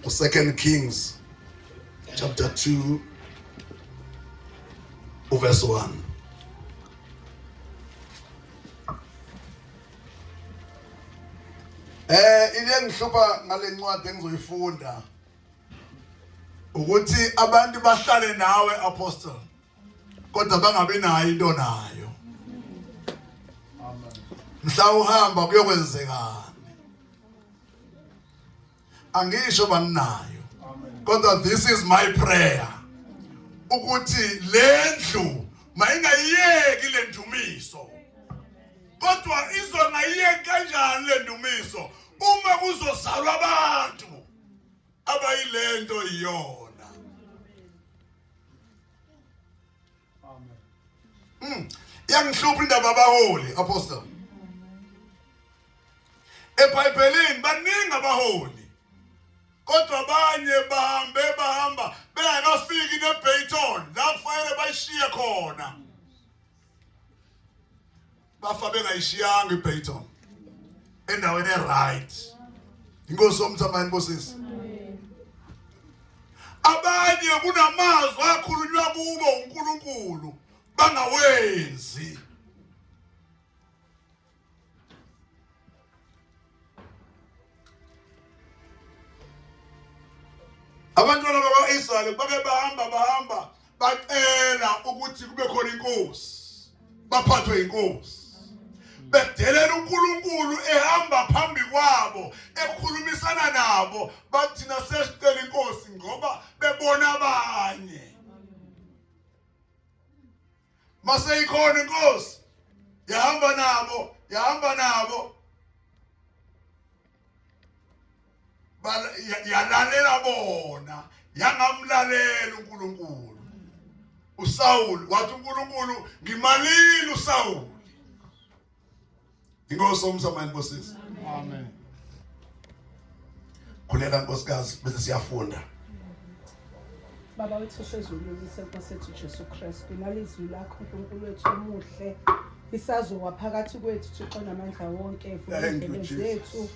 Second Kings chapter 2 verse 1. Eh into engihlupha ngalencwadi engizoyifunda ukuthi abantu bahlale nawe apostle kodwa bangabe nayo into nayo mhla uhamba kuyokwenzekani angisho banginayo kodwa this is my prayer ukuthi lendlu mayingayiyeki lendumiso kodwa izongayiyeki kanjani lendumiso uma kuzozalwa abantu abayilento iyona Amen. Mm. Iyangihlupha indaba abaholi apostle. EBhayibhelini baningi abaholi. Kodwa abanye bahambe bahamba bengakafiki neBayton lapho kufanele bayishiye khona. bafa bengayishiyanga iBayton endaweni eright inkosi omthambani nkosisi abanye kunamazwi akhulunywa kubo uNkulunkulu bangawenzi abantwana bakwa-israyeli bake bahamba bahamba bacela ukuthi kube khona inkosi baphathwe inkosi bedelela uNkulunkulu ehamba phambi kwabo ekhulumisana nabo bathina sesicela inkosi ngoba bebona abanye maseyikhona inkosi yahamba nabo yahamba nabo yalalela bona yangamlalela uNkulunkulu uSawulu wathi uNkulunkulu ngimalile uSawulu Inkosi omsamani bosisi. Amen. Khuleka nkosikazi bese siyafunda. Baba wethu osezulwini senkosi ethu Jesu Kristu nalizwi lakho uNkulunkulu wethu omuhle isazowa phakathi kwethu Thixo namandla wonke evulele zethu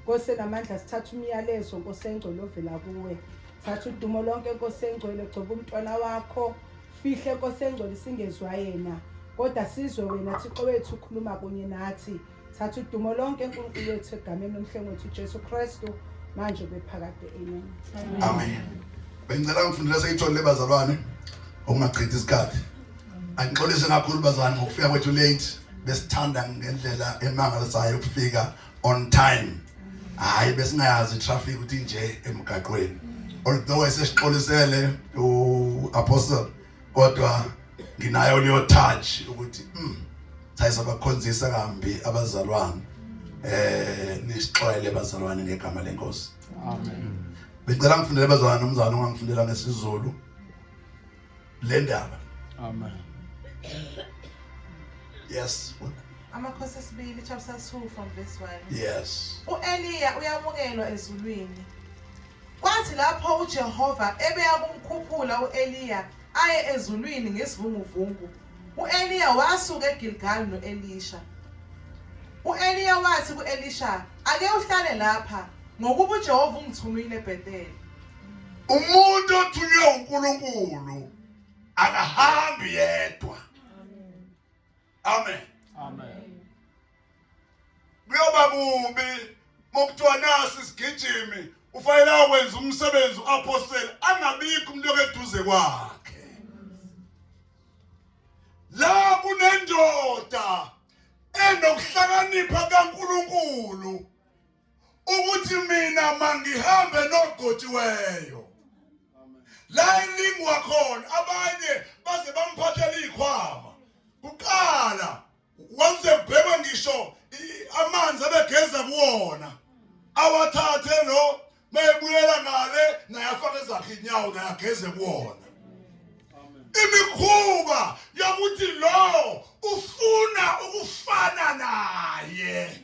Nkosi namandla sithatha umyalezo Nkosi engcwele ovela kuwe thatha udumo lonke Nkosi engcwele gcoba umntwana wakho Fihle Nkosi engcwele singezwa yena kodwa sizwe wena Thixo wethu ukhuluma kunye nathi thatha udumo lonke enkulunkulu wethu egameni lomhlengi wethu ujesu kristu manje bephakade amen amen bengicela ngifundile seyitholile bazalwane okungachithi isikhathi angixolise kakhulu bazalwane ngokufika kwethu late besithanda ngendlela emangalisayo ukufika on time hayi besingayazi traffic ukuthi nje emgaqweni although esesixolisele u apostle kodwa nginayo leyo touch ukuthi mm thayisa bakhonzisa kambi abazalwane eh nisixoyele bazalwane ngegama lenkosi amen bengicela ngifundele bazalwane umzalwane ongangifundela ngesizulu le ndaba amen yes amakhosi esibili chapter 2 from verse 1 yes uEliya uyamukelwa ezulwini kwathi lapho uJehova ebeya kumkhuphula uEliya aye ezulwini ngesivunguvungu uEliya wasuka eGilgal noElisha uEliya wathi kuElisha ake uhlale lapha ngokuba uJehova ungithumile eBethel umuntu othunywe uNkulunkulu akahambi yedwa amen amen kuyoba kubi mokuthiwa naso isigijimi ufanele akwenza umsebenzi uapostoli angabikho umuntu okeduze kwakhe la kunendoda enokuhlakanipha kaNkuluNkulu ukuthi mina mangihambe nogotiweyo la ilingwa khona abanye baze bamphathela ikhwama kuqala wanze bhekwa ngisho amanzi abegeza kuwona awathathe lo mayebuyela ngale naye afake ezakhe inyawo naye ageze kuwona imikhuba yokuthi lo ufuna ukufana naye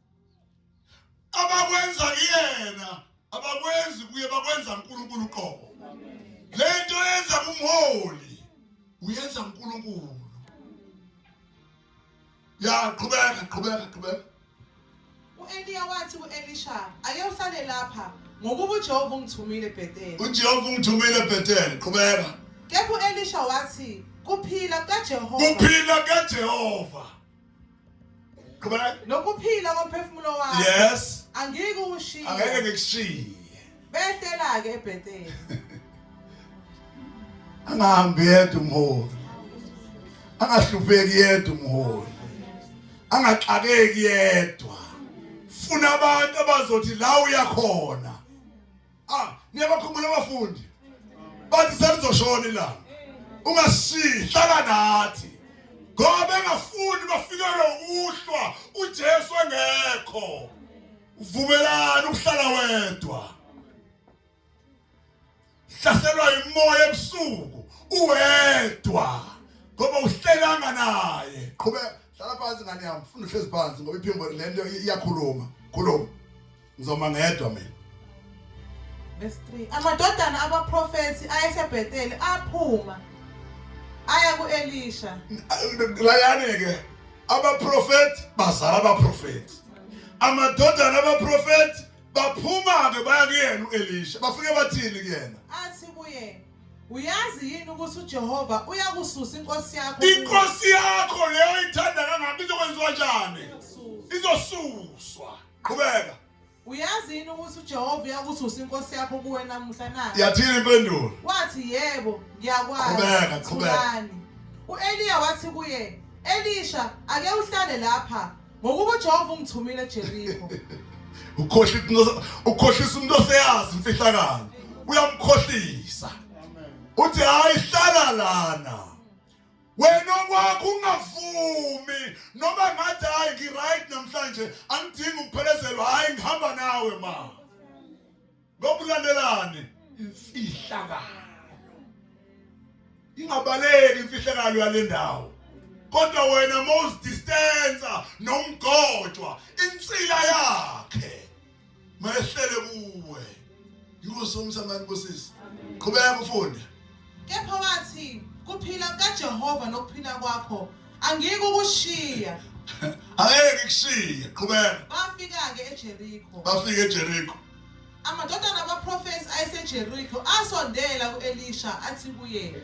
abakwenza kuyena abakwenzi kuye bakwenza uNkulunkulu qobo lento yenza kumholi uyenza uNkulunkulu ya qhubeka qhubeka qhubeka uEliya wathi kuElisha ake usale lapha ngokuba uJehova ungithumile eBethel uJehova ungithumile eBethel qhubeka kepha uElisha wathi kuphila kaJehova kuphila kaJehova Qhubeka. Nokuphila komphefumulo wakho. Yes. Angike ukushiya. Angeke ngikushiye. Behlela ke eBethel. Angahambi yedwa umholi. Angahlupheki yedwa umholi. Angaxakeki yedwa. Funa abantu abazothi la uyakhona. ah niyabakhumbula abafundi bathi selizoshona ilanga ungasihlala nathi ngoba engafuni bafikelwe uhlwa uJesu engekho uvumelani ukuhlala wedwa hlaselwa imoya ebusuku uwedwa ngoba uhlelanga naye qhubeka hlala phansi ngane yami funa uhlezi phansi ngoba iphimbo lento iyakhuluma khuluma ngizoma ngedwa mina verse 3 amadodana abaprofethi ayesebheteli aphuma aya ku-elisha layani-ke abaprofethi bazala abaprofethi amadodana abaprofethi baphuma-ke baya kuyena u-elisha bafike bathini kuyena athi kuyena Uyazi yini ukuthi uJehova uyakususa inkosi yakho? Inkosi yakho leyo ithanda kangaka izokwenziwa njani? Izosuswa. Qhubeka. Uyazi yini ukuthi uJehova uyakususa inkosi yakho kuwe namuhla na? Yathini impendulo. Wathi yebo, ngiyakwazi. Qhubeka, qhubeka. U-Eliya wathi kuye, Elisha, ake uhlale lapha. ngokuba uJehova ungithumile eJeriko ukhohlisa umuntu oseyazi imfihlakalo uyamkhohlisa uthi hayi hlala lana wena okwakho ungavumi noma ngathi hayi ngiright namhlanje angidingi ukuphelezelwa hayi ngihamba nawe ma ngokulandelane imfihlakalo ingabaleki imfihlakalo yale ndawo kodwa wena mawuzidistansa nomgojwa insila yakhe mayehlele kuwe yikho somsamani bosisi qhubeka ufunde Kepha wathi, kuphila kukaJehova nokuphila kwakho, angiyike ukushiya. Angeke ngikushiye, qhubeka. Bafika-ke eJeriko. Bafika eJeriko. Amadodana abaprofethi ayeseJeriko asondela ku-Elisha athi kuye,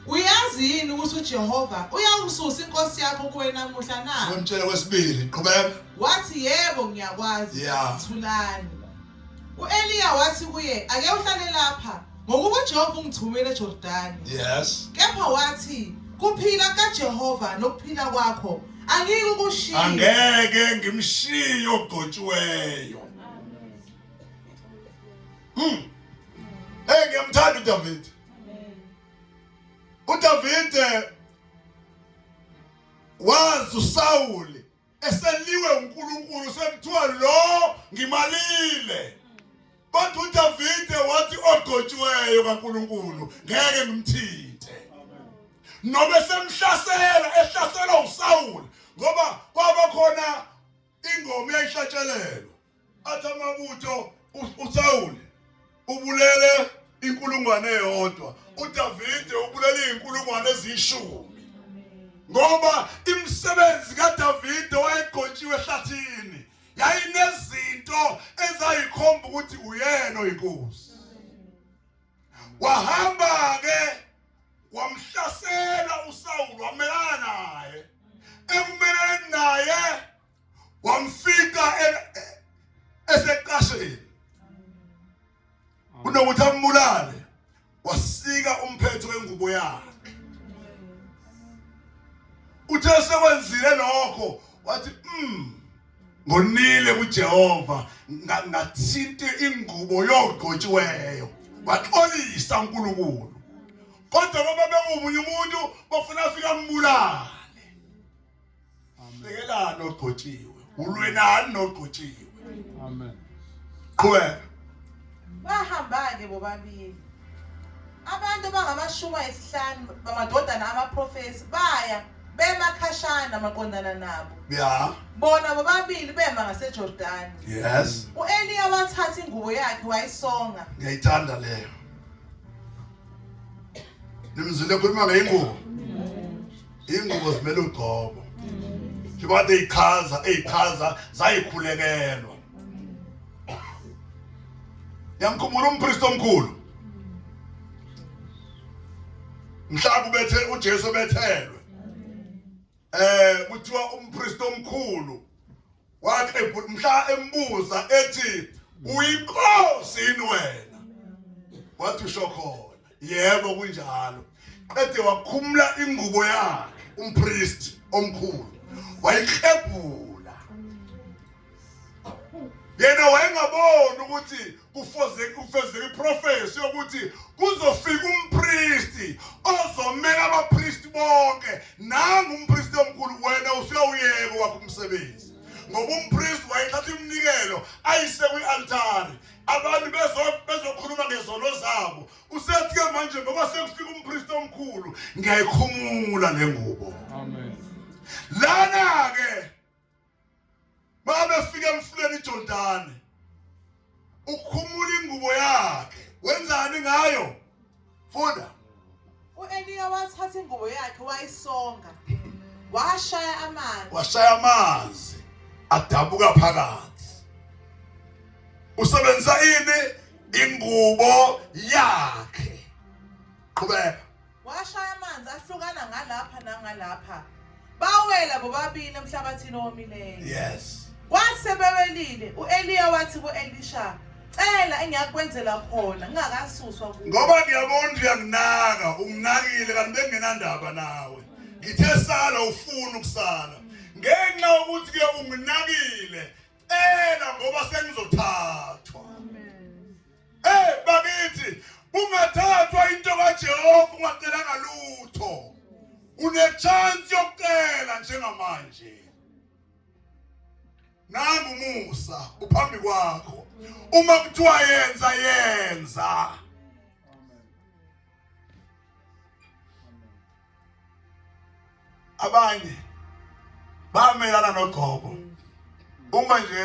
Uyazi yini ukuthi uJehova uyakususa inkosi yakho kuwe namuhla na? Ngimtshele kwesibili, qhubeka. Wathi, Yebo, ngiyakwazi. Yeah. Thulani. U-Eliya wathi kuye, Ake uhlale lapha, ngokuba uJehova ungithumile eJordani. Yes. Kepha wathi, Kuphila kaJehova nokuphila kwakho, angiyike ukushiya. Angeke ngimshiye ogcotshiweyo. Hmm. Hey, ngiyamthanda uDavide. UDavide wazi uSawuli eseliwe uNkulunkulu sekuthiwa lo ngimalile kodwa uDavide wathi ogcotshiweyo kaNkulunkulu ngeke ngimthinte nobe semhlasela ehlaselwa uSawule ngoba kwaba khona ingoma eyayihlatshelelwa athi amabutho uSawule ubulele inkulungwane eyodwa uDavide ubulele izinkulungwane ezishumi ngoba imisebenzi kaDavide wayegqotshiwe ehlathini yayinezinto ezayikhomba ukuthi uyena oyinkosi wahamba ke wamhlasela uSawulu wamelana naye ekumeleni naye wamfika eseqasheni kunokuthi ambulale wasika umphetho wengubo yakhe uthe sekwenzile lokho wathi mm ngonile kuJehova ngathinte ingubo yogqotshiweyo waxolisa uNkulunkulu kodwa baba bewumunye umuntu bafuna afika ambulale Hlekelani ogcotshiwe. Ulwenani nogcotshiwe. Amen. Qhubeka. Bahamba-ke bobabili. Abantu bangamashumi ayisihlanu bamadodana amaprofesi baya bema khashana maqondana nabo. Yeah. Bona bobabili bema ngaseJordani. Yes. U-Eliya wathatha ingubo yakhe wayisonga. Ngiyayithanda leyo. Nimzile khuluma ngeyingubo. ingubo zimele ugcobo njengoba kade ichaza eyichaza zayikhulekelwa yamkhumbula umpristi omkhulu mhlawumbe bethe uJesu bethelwe eh kuthiwa umpristi omkhulu Waqebula mhla embuza ethi uyinkosi yini wena? Wathi usho khona. Yebo kunjalo. Qede wakhumula ingubo yakhe umpriest omkhulu wayiklebhula yena wayengaboni ukuthi kufezeka iprofesi yokuthi kuzofika umpristi ozomela abapristi bonke nangu umpristi omkhulu wena usuyawuyeka wakho umsebenzi ngoba umpristi wayethatha iminikelo ayise kwi-altari abantu bezokhuluma ngezono zabo usethi-ke manje ngoba sekufika umpristi omkhulu ngiyayikhumula le ngubo lana-ke Mabefika emfuleni iJordani ukhumula ingubo yakhe wenzani ngayo funda uEliya wathatha ingubo yakhe wayisonga washaya amanzi washaya amanzi adabuka phakathi usebenzisa ini ingubo yakhe qhubeka washaya amanzi ahlukana ngalapha nangalapha bawela bobabili emhlabathini owomileyo yes kwathi sebewelile u-eliya wathi ku-elisha cela engiyakwenzela khona ngingakasuswa kuwe ngoba ngiyabona ukuthi uyanginaka unginakile kanti bengingenandaba nawe ngithe sala ufuna ukusala ngenxa yokuthi ke unginakile cela ngoba sengizothatha Eh bakithi ungathathwa into kaJehova ungacelanga lutho. Unechance yokucela njengamanje. Nangu Musa uphambi kwakho. Uma kuthiwa yenza yenza. abanye bamelana nogobo uma nje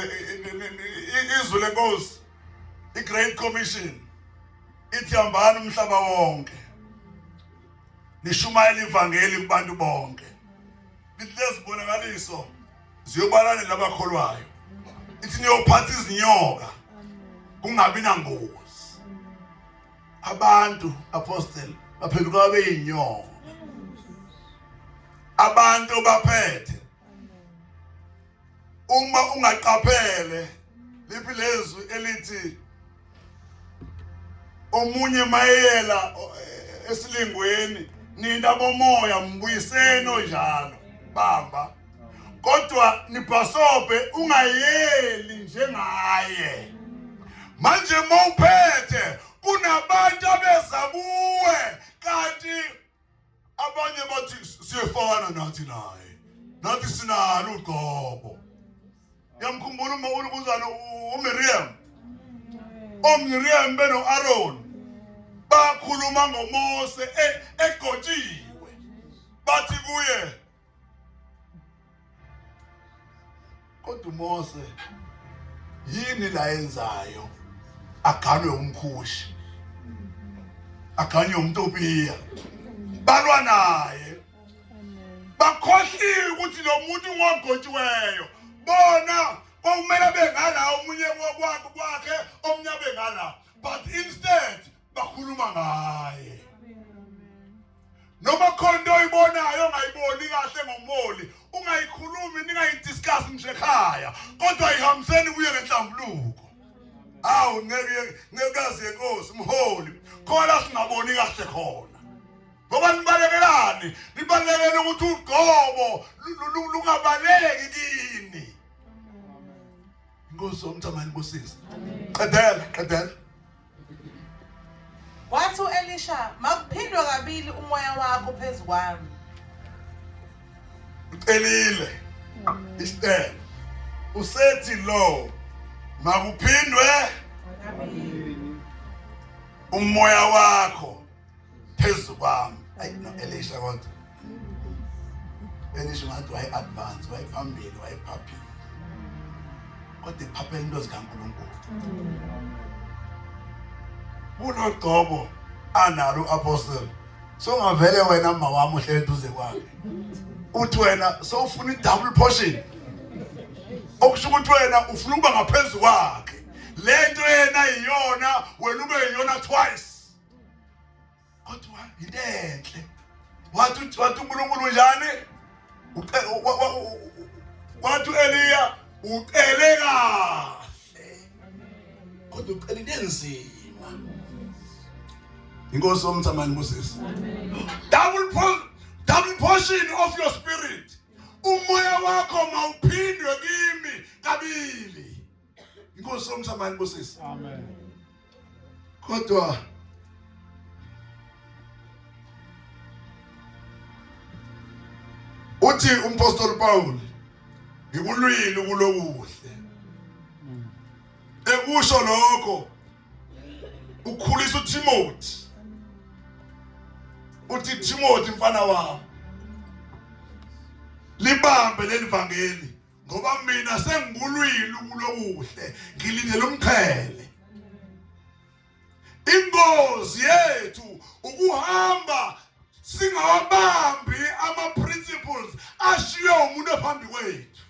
izwi lenkosi i-great commission ithi hambani umhlaba wonke nishumayela ivangeli kubantu bonke lithi lezibonakaliso ziyobalane labakholwayo ithi niyophatha izinyoka kungabi nangozi abantu apostle baphenduka babe yinyongo abantu baphethe uma ungaqaphele liphi lezwi elithi omunye mayeyela esilingweni nina bomoya mbuyiseni onjalo bamba kodwa nibhasobhe ungayeli njengaye manje mawuphethe kunabantu abeza kuwe kanti abanye bathi siyefana nathi naye nathi sinalo ugqobo yamkhumbula uma ulukuzana uMiriam oMiriam beno Aaron bakhuluma ngoMose e, egotshiwe bathi kuye kodwa uMose yini la yenzayo aganwe umkhushi aganye umtopiya balwa naye bakhohliwe ukuthi lo muntu ngogotshiweyo bona kwakumele bengala omunye kwakhe omunye bengala but instead bakhuluma ngaye noma khona into oyibonayo ongayiboni kahle ngomoli ungayikhulumi ningayidiscuss nje ekhaya kodwa ihambiseni kuye ngenhlambuluko awu ngeke ngekazi yenkosi mholi khona singaboni kahle khona ngoba nibalekelani nibalekele ukuthi ugqobo lungabaleki kini inkosi omthamani bosisi qedela qedela Wathi u-Elisha, makuphindwe kabili umoya wakho phezu kwami. Ucelile isicelo. Usethi lo makuphindwe umoya wakho phezu kwami ayi no Elisha kodwa Elisha ngathi waye advance waye phambili waye phaphile kodwa iphaphela into zikaNkulunkulu kulogcobo analo apostle songavele wena mama wami uhlele duze kwakhe uthi wena sowufuna i-double portion okusho ukuthi wena ufuna ukuba ngaphezu kwakhe le nto yena yiyona wena ube yiyona twice kodwa yinto enhle wathi wathi uNkulunkulu njani wathi uEliya ucele kahle kodwa ucele into enzima inkosi omthamani Moses double double portion of your spirit umoya wakho mawuphindwe kimi kabili inkosi yomhlaba inibusise amen kodwa uthi umpostoli Paul ngikulwile kulokuhle ekusho lokho ukhulisa uTimothy uthi Timothy mfana wami libambe lelivangeli ngoba mina sengibulwile ukulokuhle ngilindele umqhele ingozi yethu ukuhamba singawabambi ama principles ashiye umuntu phambi kwethu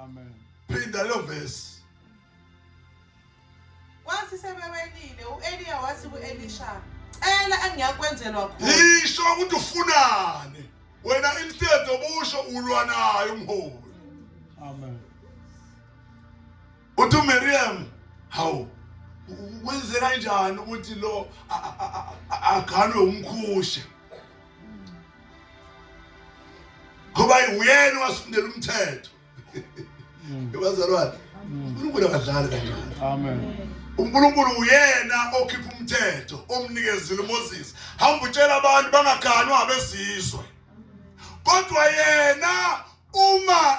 amen phinda lo verse Kwathi sebewelile u-Eliya wathi ku-Elisha, "Cela engiyakwenzelwa khona." Yisho ukuthi ufunani. Wena instead obusho ulwa naye umholi. Amen. Uthi uMiriam, hawu kwenzeka kanjani ukuthi lo aganwe umkhushe? Ngoba uyena wasifundela umthetho. mm. bazalwane mm. unkulunkulu akadlali kancane unkulunkulu uyena okhipha umthetho omnikezile umoses hamba utshela abantu bangaganwa abezizwe kodwa yena uma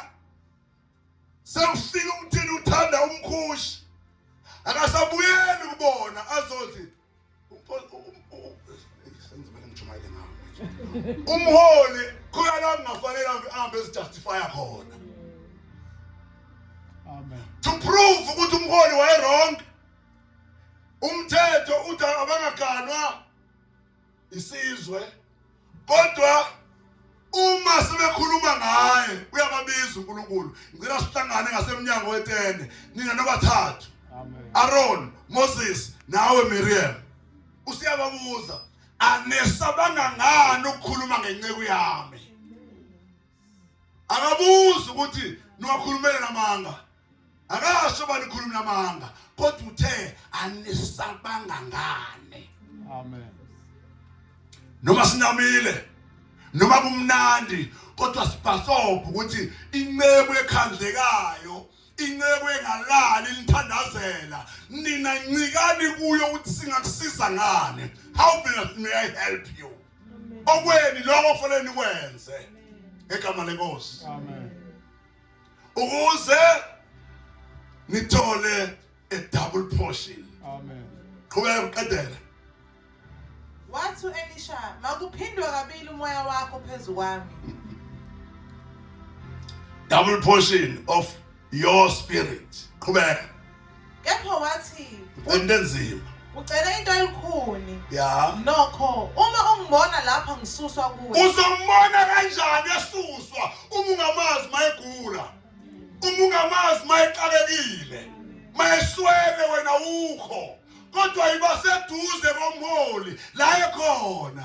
sewufika umthini uthanda umkhushi akasabuyeli kubona azothi umholi khona la kungafanele ahambe ezijustifya khona to prove ukuthi umholi wayewrong umthetho uthi abangaganwa isizwe kodwa uma sebekhuluma ngaye uyababiza uNkulunkulu ngicela sihlangane ngasemnyango wetende nina nobathathu Aaron Moses nawe Miriam usiyababuza anesabanga ngani ukukhuluma ngenceku yami akabuzi ukuthi niwakhulumele namanga akasho uba nikhulumela amanga kodwa uthe anisabanga ngane amen noma sinamile noma kumnandi kodwa sibhasobha ukuthi inceku ekhandlekayo inceku engalali nithandazela nina ncikani kuyo ukuthi singakusiza ngani how may i help you okweni lokho kufanele nikwenze ngegama lenkosi amen ukuze nithole a double portion amen qhubeka uqedela wathi uElisha makuphindwe kabili umoya wakho phezukwami double portion of your spirit qhubeka kepha wathi into enzima ucele into elikhuni ya nokho uma ungibona lapha ngisuswa kuwe uzombona kanjani esuswa uma ungamazi mayegula uma ungamazi mayexakekile mayeswele wena ukho kodwa yibaseduze komholi la ekhona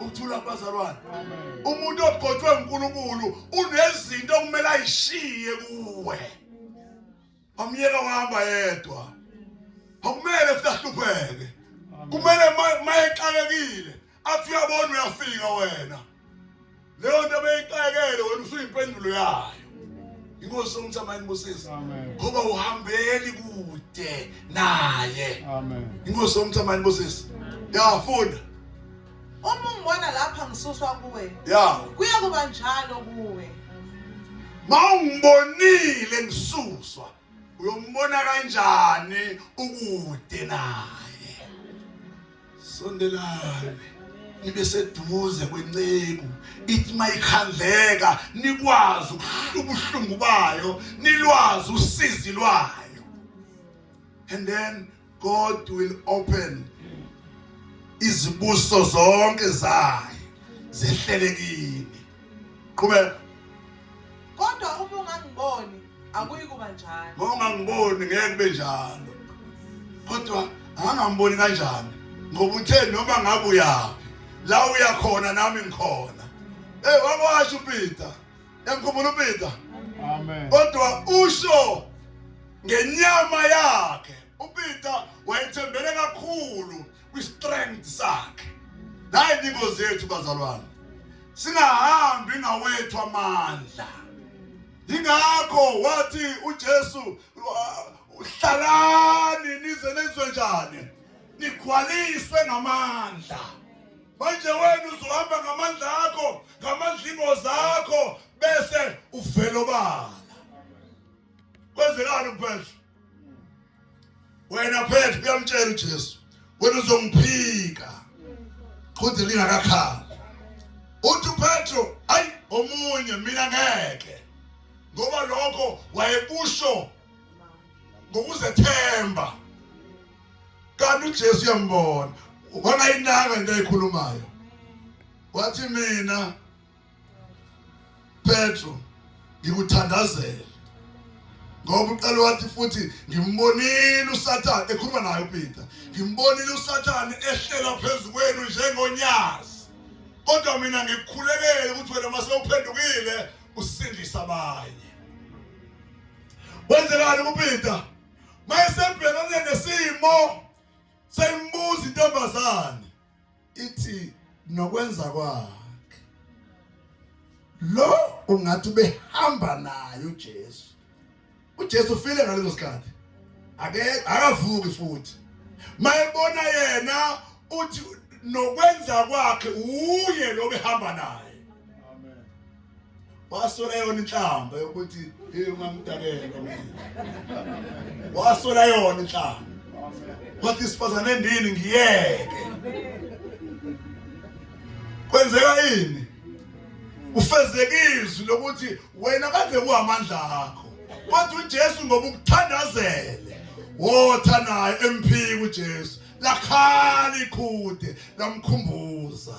ukuthula kubazalwane umuntu ogcotshwe uNkulunkulu unezinto okumele ayishiye kuwe amyeka uhamba yedwa akumele futhi ahlupheke kumele mayexakekile athi uyabona uyafika wena leyo nto beyixakele wena usuyimpendulo yayo inkosi somthamani busisi ngoba uhambeli kude naye inkosi somthamani busisi yafunda uma ungibona lapha ngisuswa kuwe ya kuya kuba njalo kuwe ma ungibonile ngisuswa uyombona kanjani ukude naye sondelane nibe seduze kwenceku ithi mayikhandleka nikwazi ukuhlula ubuhlungu bayo nilwazi usizi lwayo and then god will open izibuso zonke zayo zehlele kini qhubeka kodwa uma ungangiboni akuyi kuba njalo uma ungangiboni ngeke kube njalo kodwa angangiboni kanjani ngoba uthe noma ngabe uyaphi la uya khona nami ngikhona hey wakwasho uPeter yamkhumbula uPeter amen kodwa usho ngenyama yakhe uPeter wayethembele kakhulu kwi-strength sakhe naye ningozi yethu bazalwane singahambi ngawethu amandla yingakho wathi uJesu hlalani nize nenzwe njani nikhwaliswe ngamandla manje wena uzohamba ngamandla akho ngamandla ingozi akho bese uvelobala kwenzekani kuphela wena phethe uyamtshela uJesu wena uzongiphika qhude lingakakhali uthi uPetro ayi omunye mina ngeke ngoba lokho wayekusho ngokuzethemba kanti uJesu uyambona wangayinaka into ayikhulumayo wathi mina Petro ngikuthandazele ngoba uqale wathi futhi ngimbonile usathane ekhuluma naye upeter ngimbonile usathane ehlela phezu kwenu njengonyazi kodwa mina ngikukhulekele ukuthi wena uma sewuphendukile usindisa abanye wenzelani kupeter mayesebhekane nesimo seyimbuza intombazane ithi nokwenza kwakhe lo ungathi behamba naye uJesu uJesu ufile ngaleso sikhathi ake akavuki futhi mayebona yena uthi nokwenza kwakhe uye lo behamba naye wasola yona inhlamba yokuthi hey ungamdakela mina wasola yona inhlamba wathi isifazane endini ngiyeke kwenzeka ini ufezeka izwi lokuthi wena kade kuhamandla akho kodwa uJesu ngoba ukuthandazele wotha naye emphiki uJesu lakhala ikhude lamkhumbuza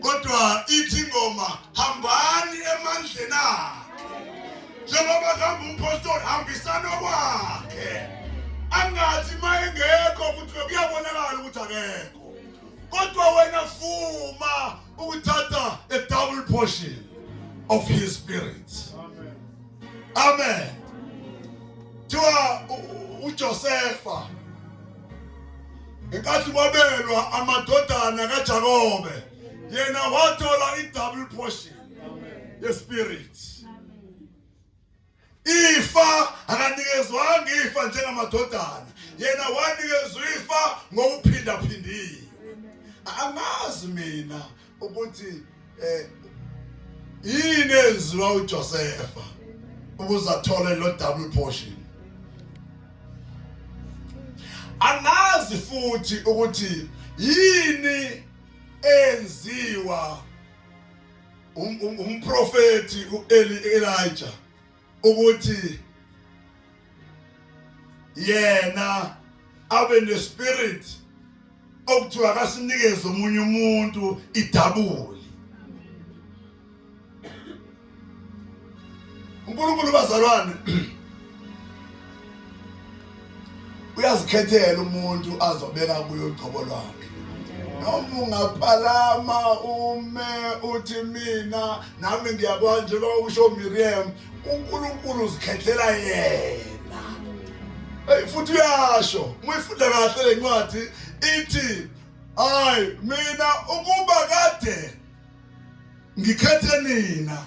kodwa ithi ingoma hambani emandleni akhe njengoba kuhamba umpostoli hambisana kwakhe angathi uma engekho ukuthi kuyabonakala ukuthi akekho kodwa wena fuma ukuthatha a double portion of his spirit amen amen kuthiwa uJosefa ngenkathi kwabelwa amadodana kaJakobe yena wathola i-double portion yespirit ifa akanikezwanga ifa njengamadodana yena wanikezwa ifa ngokuphindaphindiwe angazi mina ukuthi eh yini enziwa uJosefa ukuze athole lo double portion angazi futhi ukuthi yini enziwa um, um, umprofeti uEli Elijah ukuthi yena abe nespirit okuthiwa akasinikeze omunye umuntu idabuli uNkulunkulu bazalwane uyazikhethela umuntu azobeka kuyo uqobo lwakhe noma ungaphalama ume uthi mina nami ngiyakwazi njengoba usho Miriam uNkulunkulu uzikhethela yena hey futhi uyasho muyifunda kahle lencwadi ithi hayi mina ukuba kade ngikhethe nina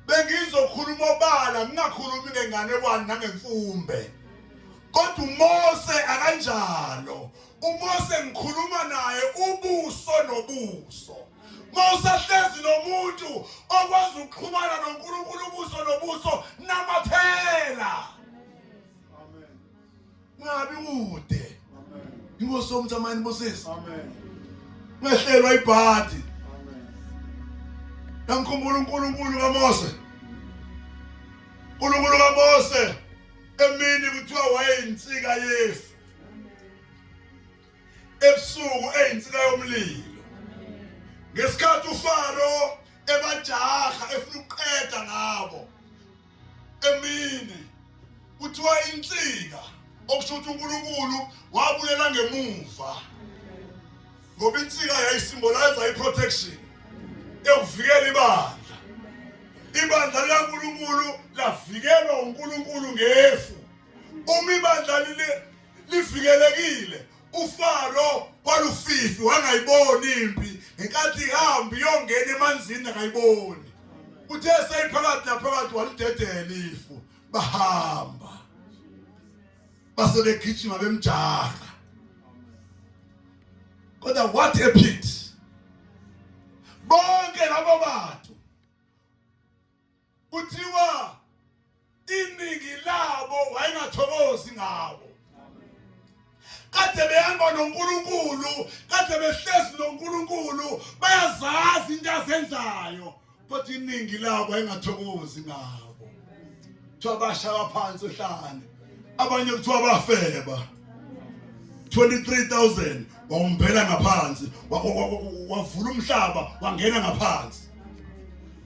bengizokhuluma obala ngingakhulumi ngenganekwane nangemfumbe kodwa uMose akanjalo uMose ngikhuluma naye ubuso nobuso mawusahlezi nomuntu okwazi ukuxhumana noNkulunkulu ubuso nobuso namaphela ungabi kude inkosi yomthi amayini busisi ungehlelwa ibhadi yamkhumbula unkulunkulu kamose unkulunkulu kamose emini kuthiwa wayeyinsika yefu ebusuku eyinsika yomlilo ngesikhathi ufaro ebajaha efuna ukuqeda ngabo emini kuthiwa insika okusho ukuthi uNkulunkulu wabuyela ngemuva ngoba insika yayisimboliza iprotection ekuvikela ibandla ibandla likaNkulunkulu lavikelwa uNkulunkulu ngefu uma ibandla livikelekile UFaro kwalufifi wangayiboni impi ngenkathi ihamba iyongena emanzini akayiboni. Uthe seyiphakathi naphakathi walidedela ifu bahamba. Base begijima bemjaha. Kodwa what a pity. Bonke labo bantu kuthiwa iningi labo wayengathokozi ngabo kade behamba noNkulunkulu kade behlezi noNkulunkulu bayazazi into azenzayo kodwa iningi labo engathokozi ngabo kuthiwa bashaya phansi uhlane abanye kuthiwa bafeba 23000 wawumbhela ngaphansi wavula umhlaba wangena ngaphansi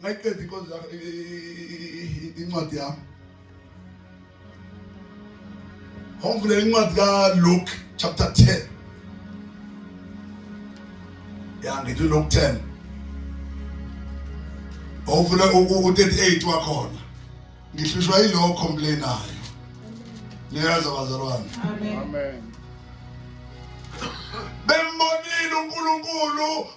ngayiqeda inkonzo yakho incwadi yami ngomvulela incwadi kaLuke chapter 10 ya ngithi Luke 10 ngomvula u-38 wakhona ngihlushwa yilowo complainayo niyazi abazalwane amen bembonile uNkulunkulu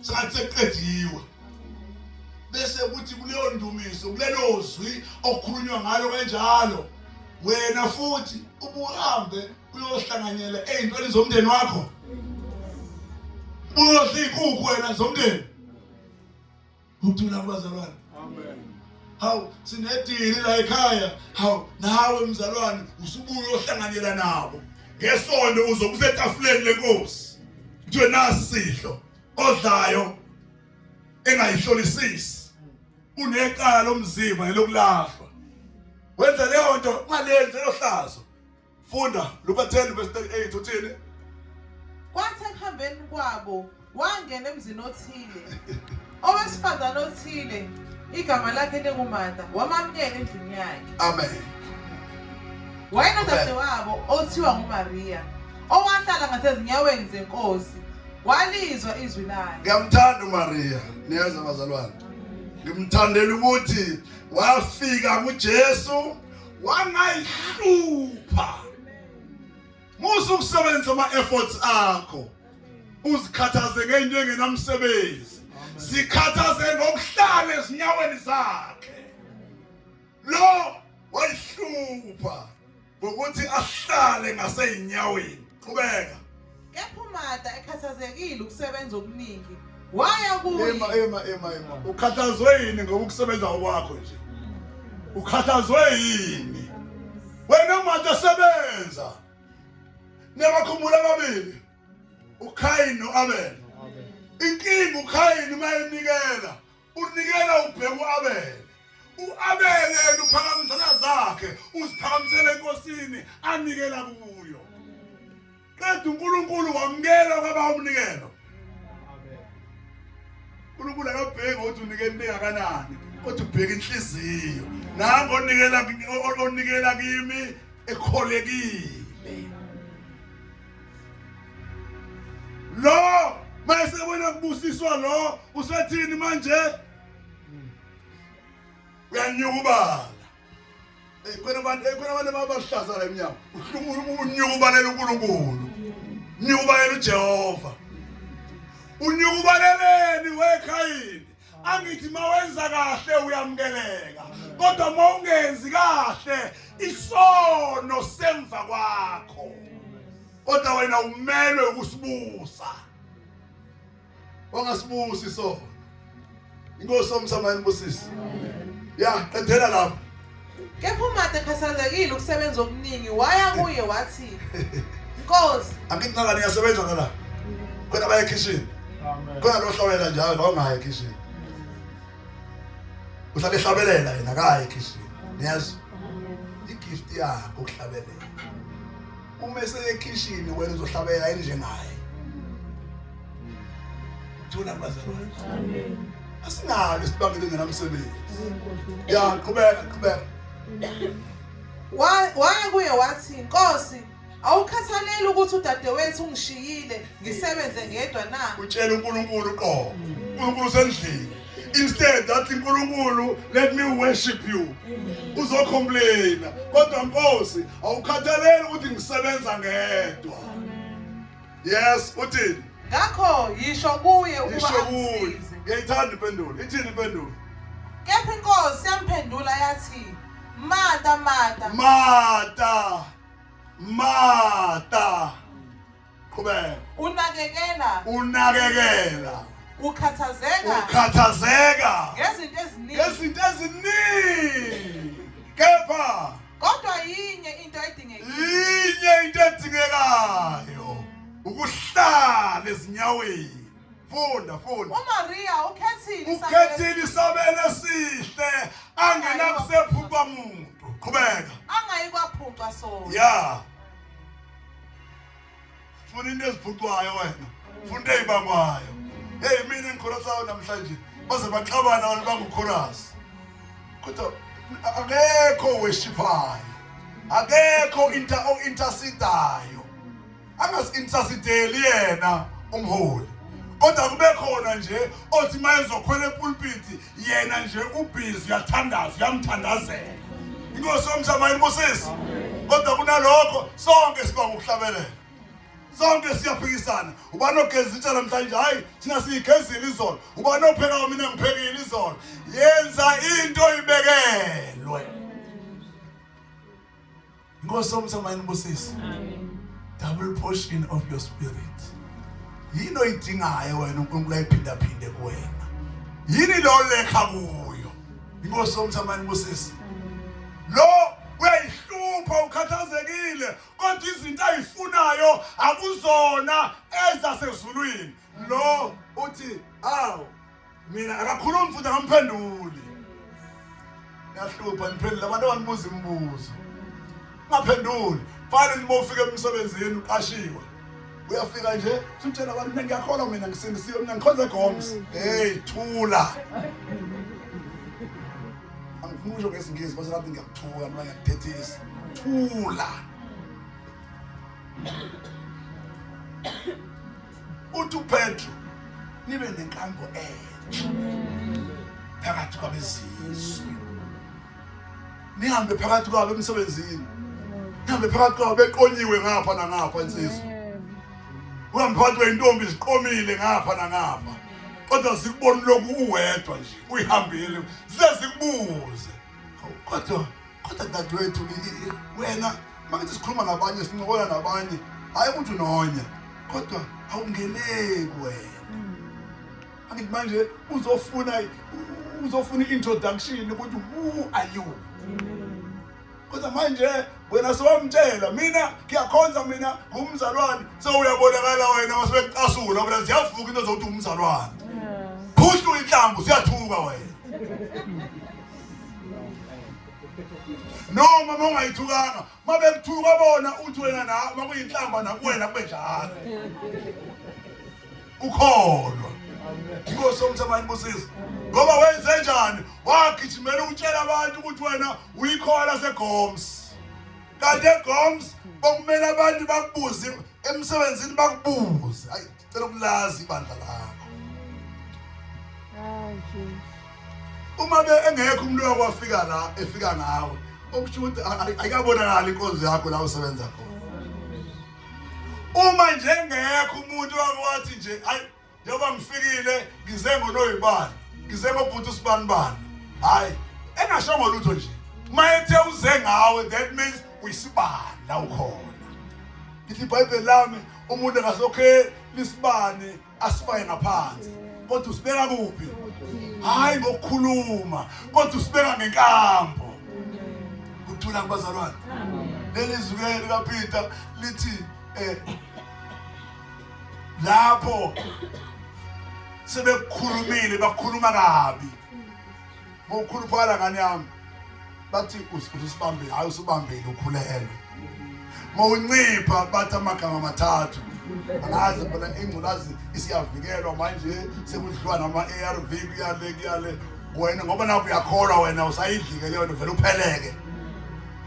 sathi sekuqediwe bese kuthi kuleyo ndumiso kulelo zwi okukhulunywa ngalo kanjalo wena futhi ubuhambe uyohlanganyela ey'ntweni zomndeni wakho uyodla iy'nkukhu wena zomndeni uthula kubazalwane hawu sinedili la ekhaya hawu nawe mzalwane usubuye ohlanganyela nabo ngesonto uzokusetafuleni lenkosi kuthiwe nasidlo odlayo engayihlolisisi unekala lomzimba nelokulahlwa wenza leyo nto ungalenzi elohlazo funda luka 10 verse 38 uthini kwathi ekuhambeni kwabo wangena emzini othile Owesifazane othile igama lakhe linguMartha wamamukela endlini yakhe. Amen. Wayenodadewabo othiwa nguMaria owahlala ngasezinyaweni zenkosi walizwa izwi layo. Ngiyamthanda uMaria, niyazi abazalwane. Ngimthandela ukuthi wafika kuJesu wangayihlupha Musa ukusebenzisa ama efforts akho. Uzikhathaze ngento engenamsebenzi. Zikhathaze ngokuhlala ezinyaweni zakhe. Lo wayihlupha ngokuthi ahlale ngasezinyaweni. Qhubeka. Kepha uMarta ekhathazekile ukusebenza okuningi waya kuye ema ema ema ema ukhathazwe yini ngoba ukusebenza kwakho nje ukhathazwe yini wena manje sebenza nabakhumbula ababili uKhayini noAbel inkinga uKhayini mayenikela unikela ubheka uAbel uAbel yena uphakamisela zakhe uziphakamisele enkosini anikela kuyo qeda uNkulunkulu wamukela kwaba umnikelo uNkulunkulu akabheki ukuthi unikela into engakanani kodwa ubheka inhliziyo nango onikela onikela kimi ekholekile lo mase wena kubusiswa lo usethini manje uyanyuka ubala khona abantu khona abantu ababahlaza la emnyango unyuka ubalela uNkulunkulu nyuka ubalela uJehova unyuka ubaleleni wekhayini angithi mawenza kahle uyamukeleka kodwa mawungenzi kahle isono semva kwakho kodwa wena umelwe ukusibusa wangasibusi sona inkosi omsama inibusisi ya qedela lapho kepha umade khathazekile ukusebenza okuningi waya kuye wathi nkosi angikunaka niyasebenza ngala khona baye ekhishini khona lohlawela njalo la ungayi ekhishini uhlale ehlabelela yena akayi ekhishini niyazi igift yakho ukuhlabelela uma eseyekhishini wena uzohlabela yini njengaye thula bazalwane amen asinalo isibangelo ngenamsebenzi ya qhubeka qhubeka waya kuye wathi nkosi awukhathaleli ukuthi udadewethu ungishiyile ngisebenze ngedwa na utshela uNkulunkulu qo uNkulunkulu sendlini instead that uNkulunkulu let me worship you uzocomplaina kodwa Nkosi awukhathaleli ukuthi ngisebenza ngedwa yes uthini ngakho yisho kuye ukuba yisho kuye ngiyayithanda impendulo ithini impendulo kepha inkosi yamphendula yathi mata mata mata mata qhubeka unakekela unakekela ukhathazeka ukhathazeka ngezinto eziningi ngezinto eziningi kepha kodwa yinye into edingekayo yinye into edingekayo ukuhlala ezinyaweni funda funda uMaria ukhethile ukhethile isabelo esihle angenakusephupha muntu qhubeka angayikwaphupha sona yeah funa into eziphucwayo wena funa into eyibangwayo heyi mina engikholasayo namhlanje baze baxabana abantu bangukhorasi kodwa akekho weshiphayo akekho inter o-intersidayo angasi-intersideli yena umholi kodwa kube khona nje othi uma ezokhwela epulpiti yena nje ubhizi uyathandaza uyamthandazela inkosi yomhlaba ayibusisi kodwa kunalokho sonke siba ngokuhlabelela sonke siyaphikisana ubani ogeza itsha namhlanje hhayi thina siyigezile izolo ubani ophekayo mina ngiphekile izolo yenza into ibekelwe Inkosi omthemba inibusise. Amen. Double portion of your spirit. Yini oyidingayo wena uNkulunkulu ayiphinda phinde kuwena. Yini lo lekha kuyo. Inkosi omthemba inibusise. Lo uyayihlupha ukhathazekile kodwa izinto ayifunayo akuzona ezasezulwini. Lo uthi awu mina akakhulumi futhi akamphenduli yahlupha niphendula abantu abanibuza imibuzo ungaphenduli fana nje bofika emsebenzini uqashiwe uyafika nje sutshela abantu mina ngiyakholwa mina ngisindisiwe mina ngikhonze goms hey thula angifuni usho ngesingisi base ngathi ngiyakuthuka mina ngiyakuthethisa thula uthi uPetru nibe nenkambo entsha phakathi kwabezizwe nihambe phakathi kwabo emsebenzini nihambe phakathi kwabo beqonyiwe ngapha nangapha insizwa uhambe phakathi kweyintombi ziqomile ngapha nangapha kodwa zikubona lokhu uwedwa nje uyihambile zize zikubuze kodwa kodwa dadewethu wena mangithi sikhuluma nabanye sincokola nabanye hhayi umuntu nonya kodwa awungeneki wena hmm. angithi manje uzofuna uzofuna i-introduction ukuthi who are you hmm. kodwa manje wena sowamtshela mina ngiyakhonza mina ngumzalwane sewuyabonakala wena wasebekucasula wena ziyavuka into zokuthi umzalwane phushla uyinhlambu siyathuka wena noma mongayithukanga mabekuthuka bona uthi wena na makuyinhlamba nakuwena kube njalo ukholwa inkosi yomthamani busiza ngoba wenze njani wagijimela ukutshela abantu ukuthi wena Uyikhowa laseGoms. Kanti eGoms bokumele abantu bakubuze emsebenzini bakubuze. Hayi, cela ukulazi ibandla lakho. Hayi Jesus. Uma be engekho umuntu wakwafika la efika ngawe. Okusho ukuthi ayikabonakala inkonzo yakho la usebenza khona. Uma nje engekho umuntu wathi nje ayi njengoba ngifikile ngize ngonoyibani ngize ngobhuti usibanibani hhayi engashongo lutho nje uma ethe uze ngawe that means uyisibanda ukhona ngithi ibhayibheli lami umuntu engasokhe lisibani asifaye ngaphansi kodwa usibeka kuphi hhayi ngokukhuluma kodwa usibeka ngenkambo kuthula kubazalwane leli zwi likapeter lithi um lapho sebekukhulumile bakhuluma kabi ngokukhuluphala ngane yami bathi usibambe hayi usibambile ukhulelwe mawuncipha bathi amagama amathathu angazi phela ingculazi isiyavikelwa manje sekudliwa nama-arv kuyale kuyale wena ngoba naku uyakholwa wena usayidlike leyo nto vele upheleke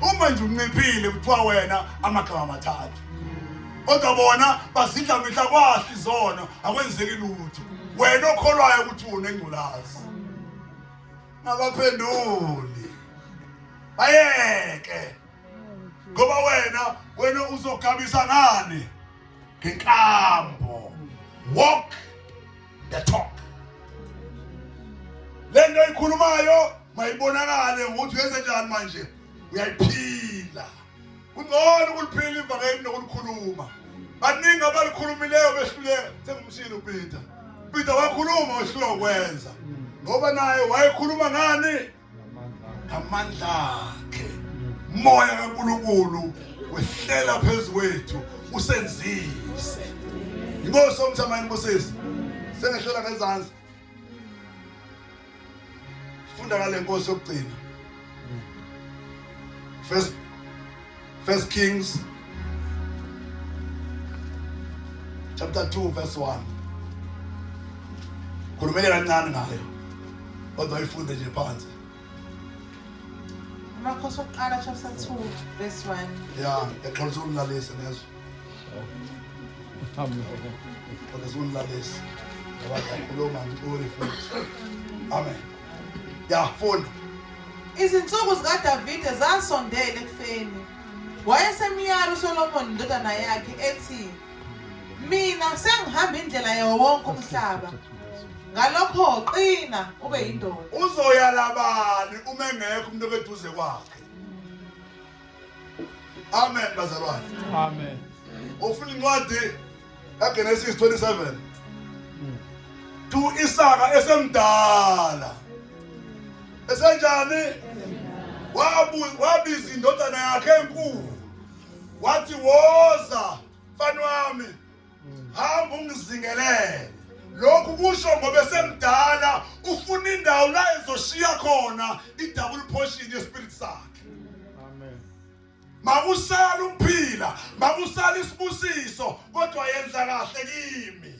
uma nje unciphile kuthiwa wena amagama amathathu kodwa bona bazidla mihla kwahle izono akwenzeki lutho wena okholwayo ukuthi wona engculazi ngabaphenduli bayeke ngoba wena wena uzogabisa ngani ngenkambo walk the talk lento ikhulumayo mayibonakale ukuthi uyenze njani manje uyayiphila kungcono ukuliphila ivangeli nokulikhuluma baningi abalikhulumileyo behluleka sengumshini upeter upeter wakhuluma wehluleka ukwenza ngoba naye wayekhuluma ngani ngamandla akhe moya kankulunkulu wehlela phezu kwethu usenzise inkosi omthamayini busisi sengehlela ngezansi funda ngale nkosi yokugcina first first kings chapter 2 verse 1 khulumele kancane ngayo kodwa ayifunde nje phansi amakhosi okuqala chapter 2 verse 1 ya exolisa umlalisi nezwe Olezonilalesi ngoba ngiyakhuluma ngibone futhi. Amen. Ya funda. Izinsuku zikaDavide zasondela ekufeni. Wayesemyala uSolomoni indodana yakhe ethi, Mina sengihamba indlela yawo wonke umhlaba. Ngalokho qina ube yindoda. Uzoyala bani uma engekho umuntu obeduze kwakhe? Amen bazalwane. Amen. Ufuna incwadi kaGenesis 27. Tu hmm. Isaka esemdala. Esenjani? Wabu wabiza indodana yakhe enkulu. Wathi woza mfana wami hamba ungizingelele lokhu kusho ngoba esemdala ufuna indawo la ezoshiya khona i-double portion yespirit sakhe amen makusala ukuphila makusala isibusiso kodwa yenza kahle kimi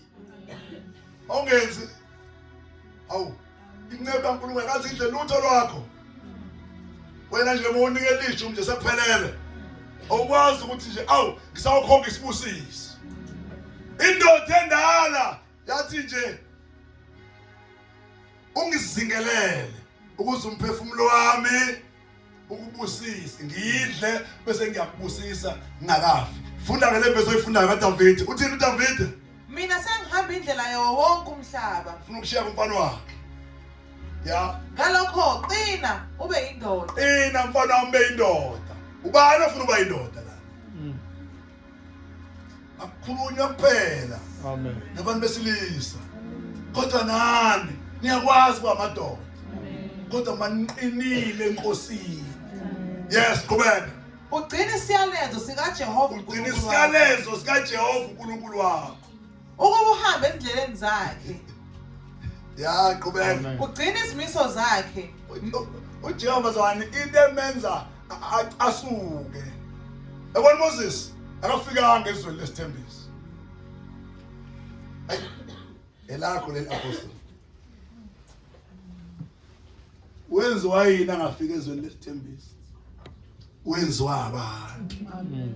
ongenzi awu inceku kaNkulunkulu akazi idle lutho lwakho wena nje mawunika elisho nje sekuphelele awukwazi ukuthi nje awu ngisawukhonga isibusiso indoda endala yathi nje ungizingelele ukuze umphefumulo wami ukubusisa ngidle bese ngiyakubusisa ngingakafi funda ngale verse oyifundayo kaDavid uthini uDavid mina sengihamba indlela yawo wonke umhlaba ufuna ukushiya kumfana wakhe ya ngalokho qina ube indoda qina mfana wami ube indoda ubani ofuna uba indoda akukhulunywa kuphela amen nabantu besilisa kodwa nani niyakwazi uba amadoda kodwa maniqinile enkosini yes qhubeka ugcina isiyalezo sikajehova ugcina isiyalezo sikajehova unkulunkulu wakho ukuba uhambe ezindleleni zakhe ya qhubeka ugcina izimiso zakhe ujehova zani into emenza asuke yabona moses akafikanga ezweni lesithembiso elakho leli apostle wenziwa yini angafika ezweni lesithembiso wenziwa abantu amen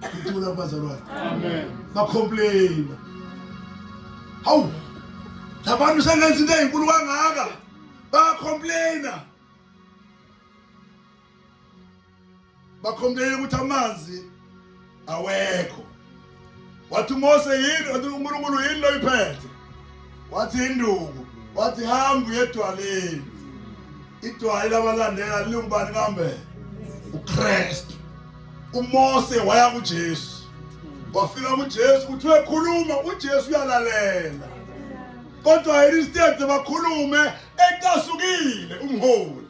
Ngicula kubazalwane. Amen. Bacomplain. Hawu. Labantu sengenza into ezinkulu kangaka. Bacomplaina. Bacomplaina ukuthi amanzi awekho wathi uMose yini wathi uNkulunkulu yini loyiphethe wathi induku wathi hamba uyedwaleni idwali labalandela lingubani kambe uKristu uMose waya kuJesu wafika kuJesu kuthiwe khuluma uJesu uyalalela kodwa instead bakhulume ecasukile umholi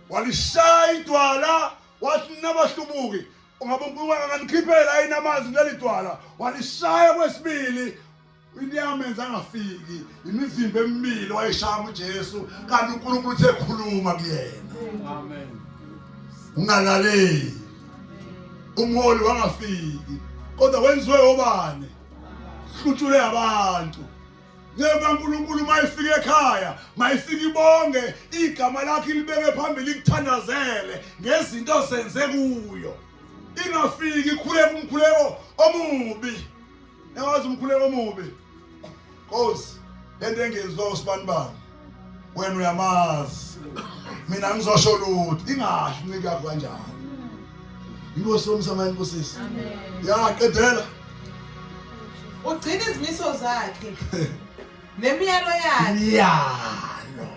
walishaya idwala wathi nabahlubuki Ungabe uNkulunkulu anganikhiphela yini amanzi kuleli dwala walishaya kwesibili inyama enza angafiki imizimba emibili wayishaya uJesu kanti uNkulunkulu uthe khuluma kuyena amen ungalaleli umholi wangafiki kodwa wenziwe obani hlutshule abantu ngemva kaNkulunkulu mayifika ekhaya mayifika ibonge igama lakhe libeke phambili ikuthandazele ngezinto senze kuyo ingafiki ikhuleka umkhuleko omubi yawazi umkhuleko omubi cause lento engenziwa usibanibani wena uyamazi mina ngizosho lutho ingashi ncike yakho kanjani inkosi yomsamani nkosisi yaqedela ugcina izimiso zakhe nemiyalo yakhe miyalo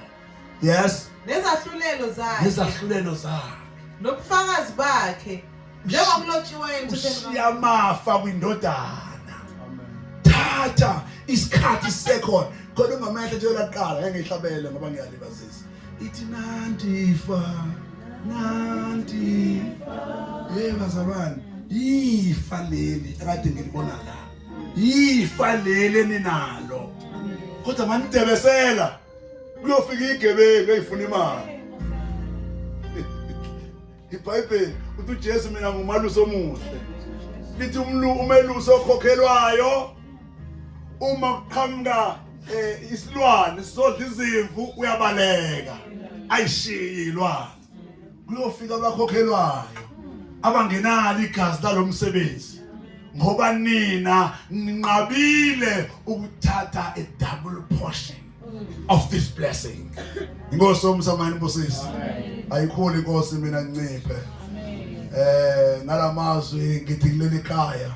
yes nezahlulelo zakhe nezahlulelo zakhe nobufakazi bakhe njengoba kulotshiwe ushiya amafa kwindodana thatha isikhathi sekhona khona ungamehla nje laqala ngeke ngihlabele ngoba ngiyalibazisa ithi nandifa nandifa hey bazalwane ifa leli akade ngilibona la ifa leli ninalo kodwa manidebesela kuyofika igebengu eyifuna imali ibhayibheli uthi ujesu mina ngumalusi omuhle lithi umelusi okhokhelwayo uma kuqhamuka um isilwane sizodla izimvu uyabaleka ayishiyi ilwane kuyofika abakhokhelwayo abangenalo igazi lalomsebenzi ngoba nina ninqabile ukuthatha a double portion of this blessing inkosi omsamani busisi ayikhuli inkosi mina nciphe eh ngalamazwi ngithi kuleli khaya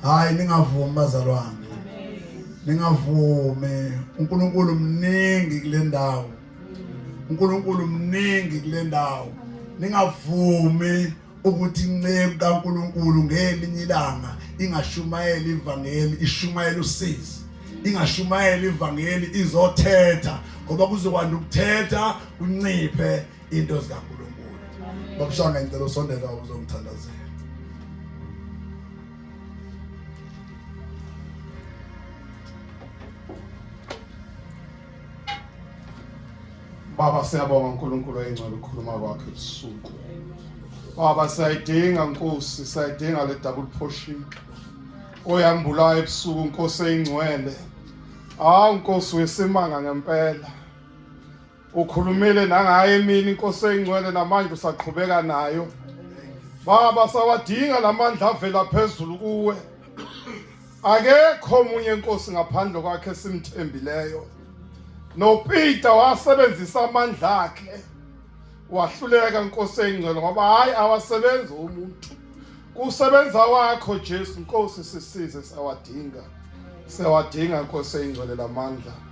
hayi ningavumi bazalwane ningavumi uNkulunkulu mningi kule ndawo uNkulunkulu mningi kule ndawo ningavumi ukuthi inceku kaNkuluNkulu ngelinye ilanga ingashumayela ivangeli ishumayela usizi ingashumayela ivangeli izothetha ngoba kuzokwanda ukuthetha kunciphe into zikaNkuluNkulu babusanga ngicela usondela uzongithandazela Baba siyabonga uNkulunkulu oyingcwele ukukhuluma kwakhe ebusuku. Baba sayidinga Nkosi, sayidinga le double portion. Oyambulayo ebusuku Nkosi eyingcwele. Hawu Nkosi wesimanga ngempela. Ukhulumile nangaye mina Nkosi eyingcwele namanje usaqhubeka nayo. Baba sawadinga lamandla avela phezulu kuwe. Akekho omunye inkosi ngaphandle kwakhe esimthembileyo. NoPeter wasebenzisa amandla akhe wahluleka inkosi eyingcwele ngoba hayi awasebenzi umuntu. Kusebenza wakho Jesu Nkosi sisize sawadinga. Sawadinga inkosi eyingcwele lamandla.